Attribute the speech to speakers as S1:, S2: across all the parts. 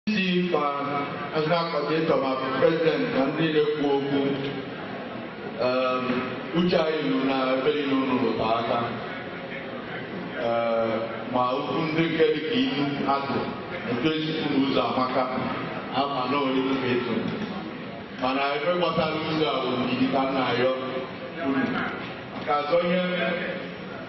S1: isi ma ndị akọdịtọ ma prezident na ndị na-ekwu okwu um, uche anyị nụ na ebe niile unu rụta aka Eh, ma okwu ndị nke dị ka ilu atụ etu esi kwu na ụzọ amaka ama na orilu ka eto mana ebe gbasara ụzọ a bụ ndidi ka m na-ayọ unu ka azọ ihe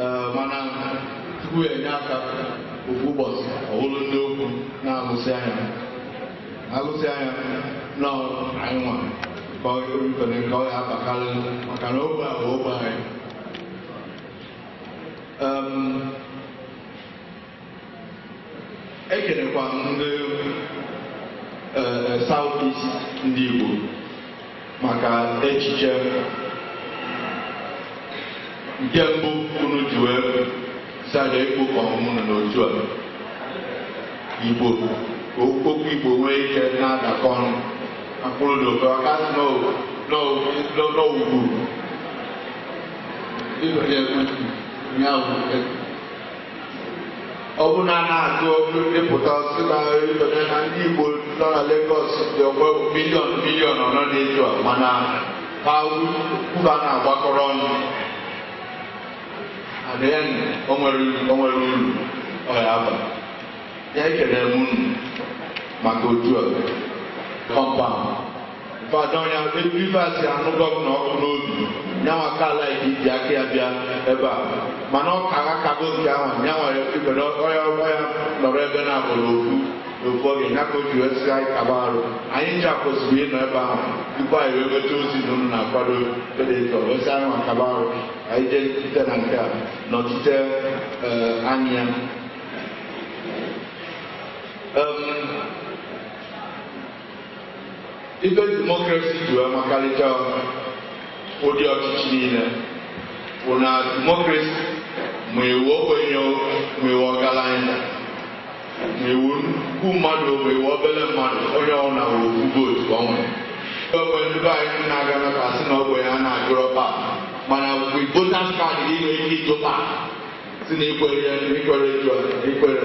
S1: Ee, mana Chukwu ya-enye aka ofu ụbọchị ọhụrụ ndị okwu na-agụsị anya agụsị anya na anyị nwa ka ọ erufere ka ọ ya abakarị maka na ogbe a bụ ogbe anyị Em, ekelekwa m ndị eh, South East ndị Igbo maka echiche nke mbụ unu ji wee decide ịkpọkọ ọnụ n'otu a Igbo ka okwu Igbo nwee ike na-adakọ ọnụ akpụrụ na ofu aka sị n'owugwu ịbanye ya bụ ọ bụ na a na-agụpụta si na ibere na ndị Igbo nọ na Lagos dị ọgba miliọn miliọn ọnọ na-eju a mana ha kwuru a na-agbakọrọ ọnụ adịghị ndụ o nwere o nwere uru ọ ya aba ya ekele m unu maka otu a kọmpaụnd Badọnya Rivers anụ gọvanọ ọkụ n'obi nyanwa kala iji aka ya bịa ebe a mana ọ ka ha kago nke ahụ nyanwa ibere ọya ọgba ya nọrọ ebe na-abụrụ okwu n'ofu oge ya ka o ji wee sị anyị kaba arụ anyị ncha kwesịrị ịnọ ebe ahụ tupu anyị wee nweta ozi na unu na-akwado edetọ wee sị anyị maka kaba arụ anyị jee site na nke a nọchite eh, anya ya Em, ife demokrasi ji wee makarịcha ụdị ọchịchị niile bụ na demokrasi ma ị wụ ogbenye ma ị wụ ọgaranya ma ị wụ nnukwu mmadụ ma ị wụ obere mmadụ onye ọwụna ofu vootu ka o nwere ogbe ndị be anyị na-aga maka asị na ogbenye a na-ajụrọ kpa mana mgbe votas kaadị gị nwere ike ịjụ kpa sị na ikwere ya ikwere jụọ ikwere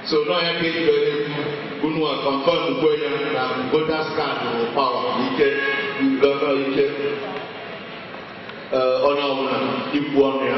S1: so n'ọ ya ka eji were ekwu unu a kọnfọm kwenye na votas kaadị bụ pawa ike gọnọ ike eh, onye ọbụla ikwu ọnụ ya